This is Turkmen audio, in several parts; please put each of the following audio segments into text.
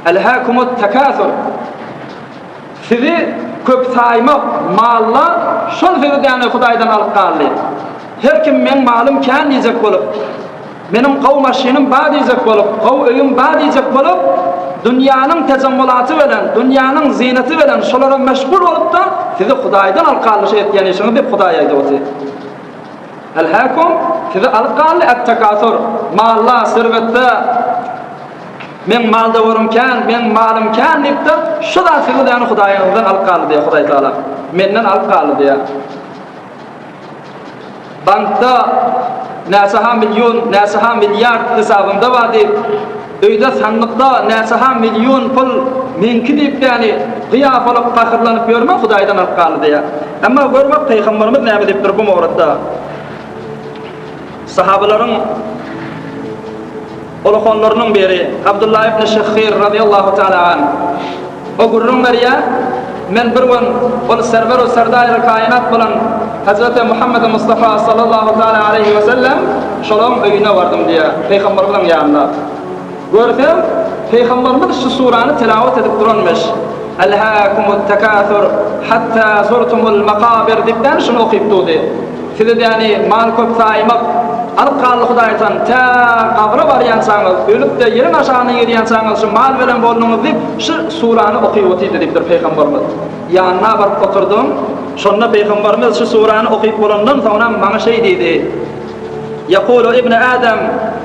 Elhâkumut tekâsur. Sizi köp saýmak, mallar şol sözi däne Hudaýdan alyp galdy. Her kim meň malym kän diýjek bolup, meniň gowy maşynym bar diýjek bolup, gowy öýüm bar diýjek bolup, dünýäniň tejemmulaty bilen, dünýäniň zynaty bilen şolara meşgul bolup-da, sizi Hudaýdan alyp galdy şu etýän işiňiz diýip Hudaý aýdypdy. Al-Hakom sizi alyp galdy, At-Takasur, malla, serwetde, Meň maldawarym kän, meň malym kän diýip-de, şu zat sizi däne Hudaýyňyzdan alyp galdy diýýär Hudaý Tagala. Menden alyp galdy diýýär. Bankda näçe-ha million, näçe-ha milliard hysabyňda bar diýip, Öýde sandykda näçeha million pul meňki diýip däni gyýabalyk pahyrlanyp ýörme hudaýdan alyp galdy diýýä. Emma gör bak Pygamberimiz näme diýipdir bu mowrutda. Sahabalaryň uluhanlarynyň biri Abdullah ibn Şehhir radyýallahu taala anh. O gürrüň berýär, Men bir gün ol Serwer-u Serdaýry Kainat bolan Hezreti Muhammedi Mustafa sallallahu taala aleýhi we sellem şolaň öýüne bardym diýýär, Pygamberimiziň ýanyna. Görsem, Pygamberimiz şu surany tilawat edip duranmyş, Elhâkumut-tekâsur hattâ zurtumul-makâbir diýip däl şuny okyp durdy. Siz edýäni mal köp saýmak, alyp gally hudaýtan, tä gabra barýançaňyz, ölüp-de ýeriň aşagyna girýänçaňyz şu mal bilen bolduňyz diýip, şu surany okyp otyrdy diýipdir Pygamberimiz. Ýanyna baryp oturdym. Şonda Pygamberimiz şu surany okyp bolandan soňra maňa şeý diýdi, Ýekulu ibnu Adam,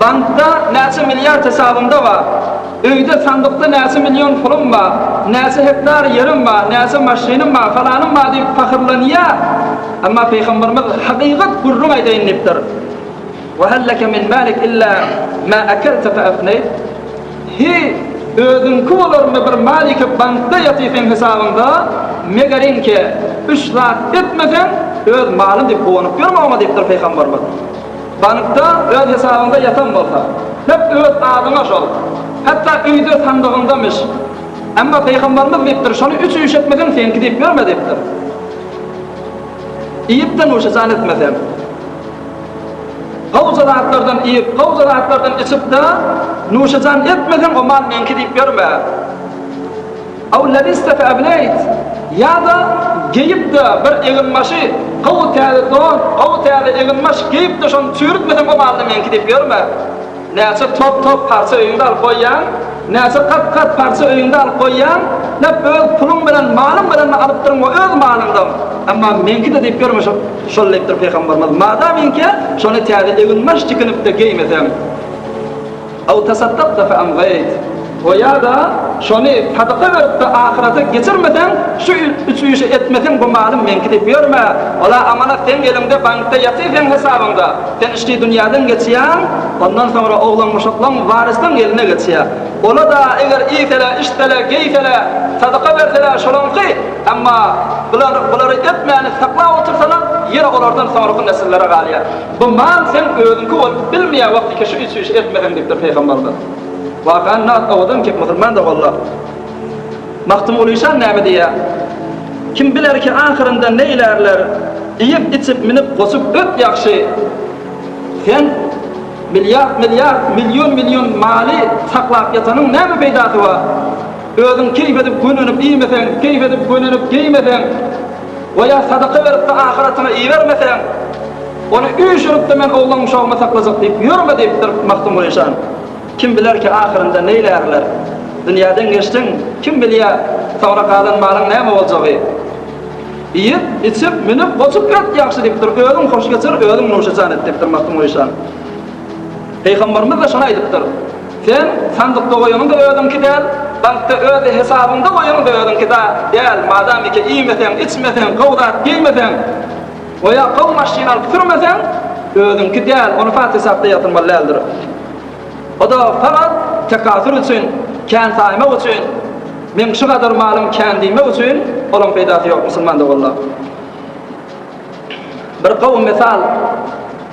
Bankda näçe milliard hesabyňda bar? Öýde, sandykda näçe million puluň bar? Näçe hektar ýeriň bar? Näçe maşynyň bar? Falanym bar diýip pahyrlanýar. Emma Pygamberimiz hakykat gürrüň aýdaýyn diýipdir. Ve hel leke min malik illa ma akelte fe efneyt. Hi, özüňki bolarmy bir maliki bankda ýaty seň hesabyňda, megerinki, üç zat etmeseň, öz malyň diýip guwanyp ýörme oňa diýipdir Pygamberimiz. Bankda öz hesabyňda ýatan bolsa, hep öz adyňa şol. Hatda öýde sandygyňdamyş. Emma Pygamberimiz diýipdir, şony üç üýş etmeseň seňki diýip ýörme diýipdir. Iýip-de nuşajan etmeseň. Gowja zatlardan iýip, gowja zatlardan içip-de nuşajan etmeseň o mal meňki diýip ýörme. Aw labista fa ablayt, ýa-da geýip-de bir eginbaşy, gowy täze don, gowy täze eginbaş geýip-de şony çüwürtmeseň o malla meňki diýip ýörme. Näçe top-top parça öýüňde alyp goýýaň, näçe kat-kat parça öýüňde alyp goýýaň, nap öz puluň bilen, malyň bilen-de alypdyryň we öz malyňdam. Emma meňki-de diýip ýörme şo, şol diýipdir Pygamberimiz, madam inkä şony täze eginbaş tikinip-de geýmeseň. Ew tasaddakta feamwayt, we ýa-da şony sadaka berip-de ahyrete geçirmeseň, şu üç işi etmeseň bu malym meňki diýip ýörme, ol-a amanat seň eliňde bankda ýatyr seň hesabyňda, sen içki dünýäden geçýäň, ondan soňra oglanmuşaklaň, waryslaň eline geçýär. Ola-da eger iýsele, içsele, geýsele, sadaka bersele şolaňky, emma bular, bulary etmäni saklap otyrsalar ýene olardan soňraky nesillere galýar. Bu mal seň özüňki bolup bilmeýär wagty keşi üýt-süýş etmeseň diýipdir Pygamberimiz. Wakany Nat owadan ki musulmandyr walla. Magtymgulyşa näme diýýär? Kim biler ki ahyrynda neýlärler iýip içip minip goşup öt ýagşy sen milliard milliard million million maly saklap ýatanyň näme peýdasy bar? Özüň keýf edip gönenip iýmeseň keýf edip gönenip geýmeseň We ýa sadaka berip-de ahyratyňa ibermeseň, ony üýşürip-de men oglan-uşagymy saklajak diýip ýörme diýipdir Magtymguly şan. Kim biler ki, ahyrynda neýlärler? Dünýäden geçdiň, kim bilýä, soňra galan malyň näme boljagy? Iýip, içip, münüp, goçup ýat ýagşy diýipdir, özüň hoş geçir, özüň nuşajan et diýipdir Magtymguly şan. Pygamberimiz-de şony aýdypdyr. Sen sandykda goýanyň-da özüňki däl, bankda öz hesabyňda goýanyň-da özüňki da däl, madamyka iýmeseň, içmeseň, gowy zat geýmeseň, goýa gowy maşyn alyp sürmeseň, özüňki däl, ony pat hesapda ýatyrmaly däldir. O-da fagaz tekasur üçin, kän saýmak üçin, meň şu gadar malym kän diýmek üçin, olaň peýdasy ýok, musulman doganlar. Bir gowy mysal.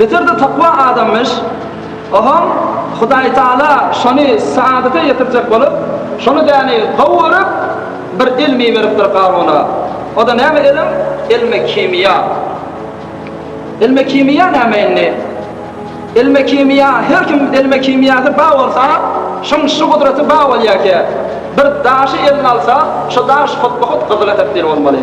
Beter-de takwa adamyş. Ohoň, Hudaýtagala şony saadata ýetirjek bolup, şony däni gowy görüp, bir ilm iberipdir Garuna. O-da näme ilim? Ilmi kimiýa. Ilmi kimiýa näme indi? Ilmi kimiýa, her kim ilmi kimiýasy bar bolsa, şoň şu gudraty bar bolýarkä, bir daşy eline alsa, şo daş hutma-hut gyzyla tebdil bolmaly.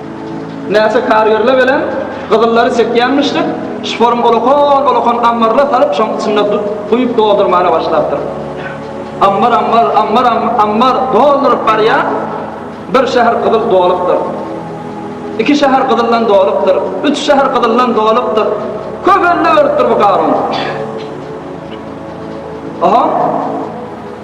Näçe karýerle welin, gyzyllary çekýänmişdik, şporyň olakan-olakan ammaryna salyp, şoň içinde duz guýup doldurmana başlapdyr. Ammar, ammar, ammar, ammar dolduryp barýar, bir şäher gyzyl dolupdyr. Iki şäher gyzyldan dolupdyr, üç şäher gyzyldan dolupdyr. Köp elde beripdir bu garun. Aha!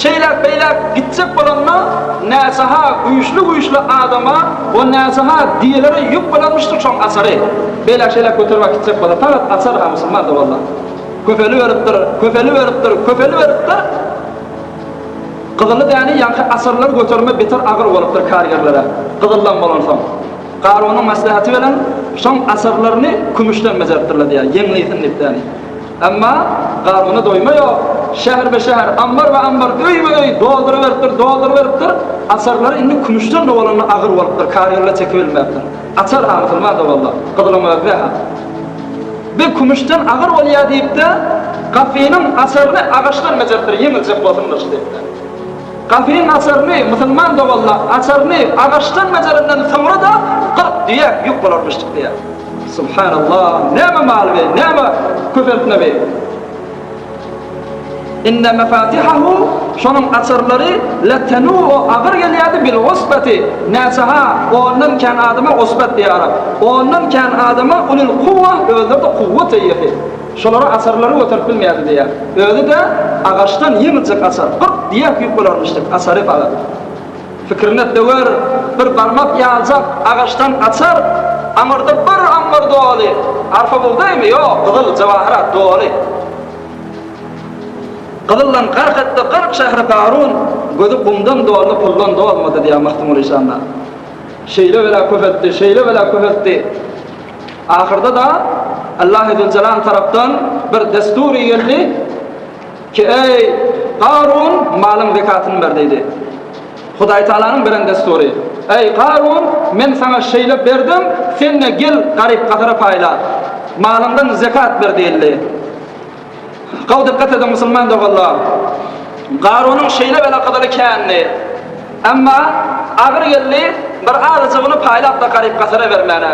Şeýläk-beýläk gitjek bolanda, näsaha güýçli-güýçli adama we näsaha diýelere ýük bolanmyşdyr çoň açary. Beýläk-şeýläk göterip akitjek bolsa, talat açar-ha musulman-da bolsa. Köpeliberipdir, köpeliberipdir, köpeliberipdir. Gyzyly däne ýaňky açarlary götermek beter agyr bolupdyr kargerlere, gyzyldan bolansoň. Garunyň maslahaty bilen şoň açarlaryny kümüşden bejeripdirler diýýär, ýeňlesin diýip däni. Emma garnyna doýma ýok. Şäherbe-şäher, ammarba-ambar, öýbe-öý dolduryberipdir, dolduryberipdir. Açarlary indi kümüşden dowalanda agyr bolupdyr, karyýolla çekibilmäpdir. Açar-ha, musulman dowalla, gyzylyň özüne-hä. Be, kümüşden agyr bolýa diýip-de, gapynyň açaryny agaçdan bejeripdir, ýeňiljek bolsun gylyç diýip-de. Gapynyň açaryny, musulman dowalla, açaryny agaçdan bejerenden soňra-da, kyrk düýe ýük bolarmyşdyk diýýär. Subhanallah näme mal be näme köpeltme be Inne mefatihahu şonuň açarlary latanu o agyr gelýärdi bil usbati näçeha ondan kän adama usbat diýär arap ondan kän adama ulul kuwwa özleri de kuwwat eýesi şolara açarlary göterip bilmeýärdi diýär özi de agaçdan ýeňiljek açar gyrk diýä küýüp bolarmyş diýip açary baga Pikirine döwer bir barmak ýaljak agaçdan açar, Aňyrda bir ambar doly, arfa bugdaýmy, ýok, gyzyl, jawahyrat doly. Gyzyldan gark etdi kyrk şähri Garun, Gözi gumdan doldy, puldan dolmady, diýýär Magtymguly Işanda. Şeýle bela köpeltdi, şeýle bela köpeltdi. Ahyrda-da Allahy Züljelal tarapdan bir dessury geldi. Ki, eý, Garun, malyň zekatyny ber! diýdi. Hudaýtagalanyň beren dessury, Eý, Garun, men saňa şeýle berdim, sen-de gel, garyp-gasara paýla, malyňdan zekat ber diýildi. Gowy dykgat ediň, musulman doganlar! Garunyň şeýle belakazaly kändi. Emma agyr geldi, bir azajygyny paýlap-da garyp-gasara bermäne.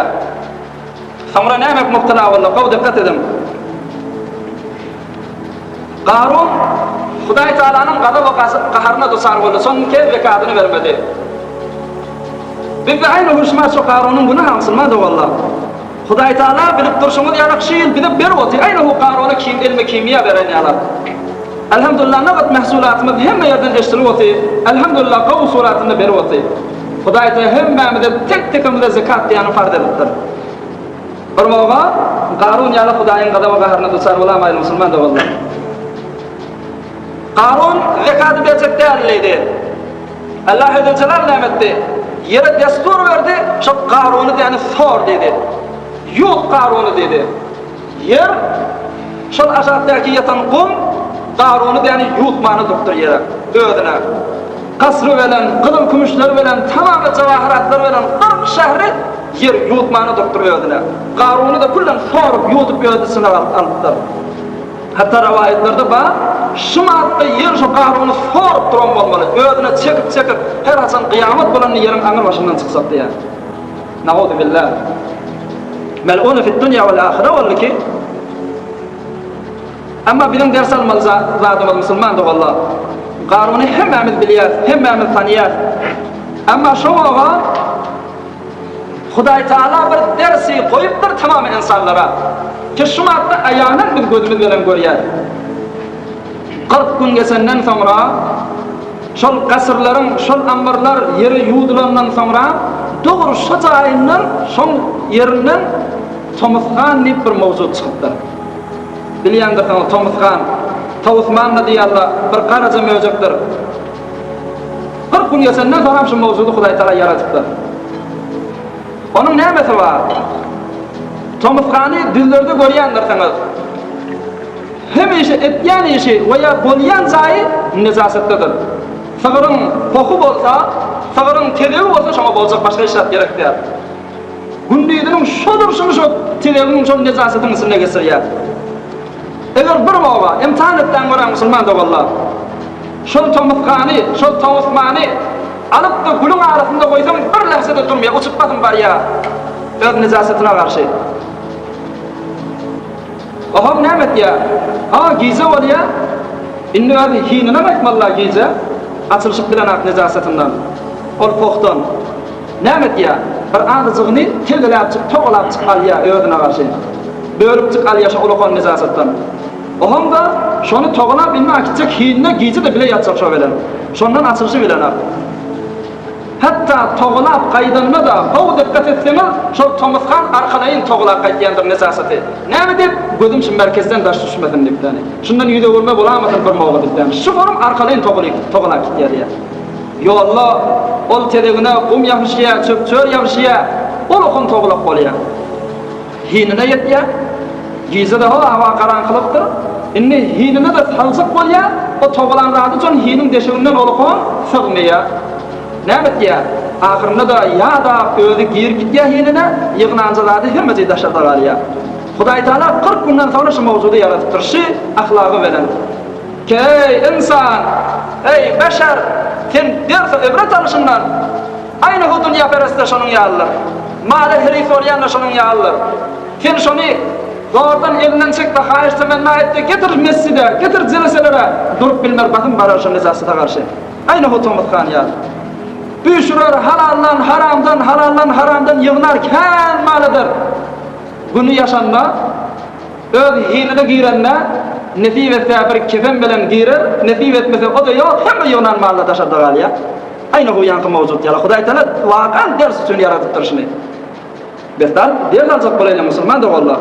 Soňra näme etmekdina boldy? Gowy dikkat ediň. Garun Hudaý Taalanyň gazap we gaharyna duçar boldy, soň iki el zekatyny bermedi. Bizde aýna uruşmaz şu Garunyň günahy aňsylmaz owalla. Hudaý Taala bilip durşuňyz ýaly şu ýyl bize berip otyr, aýna bu Garuny kim elme kimia beren ýaly. Alhamdulillah nobat mahsulatymyz hemme ýerden eşdilip otyr, alhamdulillah gowy suratynda berip otyr. Hudaý Taala hemmämize, tek-tekimize zekat diýýäni farz edipdir. Bir moga Garun ýaly Hudaýyň gazaba-gaharyna duçar bolamaýly musulman doganlar. Garun zekaty berjek däldi diýdi. Allah Hezrejelal näme etdi? Ýere destur berdi, şo Garuny diýýäni sor diýdi. Ýut Garuny diýdi. Ýer, şol aşakdaky ýatan gum Garuny däni ýuwutmana durupdyr ýere, özüne. Kasry belen, gyzyl-kümüşleri belen, tamamy jawahyratlary belen kyrk şähri Ýer ýuwutmana durupdyr özüne. Garuny-da külden sorup, ýuwudyp özüni synag alyp alypdyr. Hatda rowaýatlarda bar, Şumatda Ýer şo Garuny sorup duran bolmaly, özüne çekip-çekip, her haçan gyýamat bolanda Ýeriň aňyrbaşyndan çyksak diýýär. Naudubilla. Mel'unu fid dunya wal ahira boldy ki. Emma biziň ders almaly zadymyz musulman doganlar. Garuny hemmämiz bilýäs, hemmämiz tanyýas. Emma şo oba Hudaý Taala bir dersi goýupdyr tamam ensanlara. Ki şumatda aýanan biz gözümiz belen görýäs. Kyrk gün geçenden soňra, şol gaşyrlaryň, şol ammarlar ýere ýuwdulandan soňra, dogry şo jaýyndan, şoň ýerinden Tomus han diýip bir mowjud çykypdyr. Bilýändirsiňiz, Tomus han, Tawus manna diýýärler, bir garaja möjekdir. Kyrk gün geçenden soňam şu mowjudy Hudaý Tala ýaradypdyr. Onuň nämesi bar? Tomus hany düzlerde görýändirsiňiz. Hemişe etýän işi we ýa bolýan jaýy nejasatlydyr. Sygryň pohy bolsa, sygryň tezebi bolsa şoňa boljak başga hiç zat gerek däl. Gündiziniň şo durşuny şo tezebiň şol nejasatyň içinde geçirýär. Eger bir oba imtihan etseň göräň musulman doganlar. Şol tomusgany, şol towusmany alyp-da gülüň arasynda goýsaň bir lähze-de durmaýar, uçup basym barýar öz nejasatyna garşy. Bahar näme etýär? A, gije bolýar. Indi özi hininem aýtmaly-la gije. Açylyşyp bilenak nejasatyndan. Ol pohdan. Näme etýär? Bir azyjygyny tegeläpjik, togalapjyk alýar özüne garşy. Bölüpjik alýar şo ulakan nejasatdan. Ohoň-da şony togalap indi akitjek hinine gije-de bile ýatjak şo bilen. Şondan açylyşy bilenak. Hatda togalap gaýdanda-da gowy dykgat etseňiz, şol tomusgan arkalaýyn togalap gaýdýandyr nesasysy. Näme diýip, gözüm şu merkezden daş düşmesin diýip, ýagny, şundan ýüz öwürme bolamasyn birmogla diýip, ýagny, şu gorüm arkalaýyn togalyp, togalap gitýär diýýär. Ýolda ol tezegine gum ýabyşýar, çöp-çör ýabyşýar, ol okan togalap bolýar. Hinine ýetýär. Gije-de howa garaňkylykdyr. Indi hinine-de saljak bolýar. O togalan zady üçin hiniň deşiginden olukon sygmaýar. Näme etýär? Ahyrynda-da ýa-da özi girip gitýär hinine, ýygnanja zady hemmeje daşarda galýar. Hudaýtagala kyrk günden soňra şu mowjudy ýaradypdyr, şi ahlagy bilen. Keý, ynsan! Eý, beşer! Sen dersa ibret alyşyndan. Aýna bu dünýäperestde şonuň ýalydyr. Mala heleý sorýan-da şonuň ýalydyr. Sen şony zordan elinden çek we haýyş temenna et-de getir mesjide, getir jeleselere, durup bilmer basym barar şo nejasata garşy. Aýna bu tomus han ýaly. Üýşürer halaldan, haramdan, halaldan, haramdan ýygnar kän mal eder. Güni ýaşanda, öz hiline girende, nesip etse bir kefen bilen girer, nesip etmese o-da ýok, hemme ýygnan mal-da daşarda galýar. Aýna bu ýaňky mowjut ýaly Hudaý Taala wakan ders üçin ýaradypdyr şuny. Besar ders aljak bolaýyna musulman doganlar.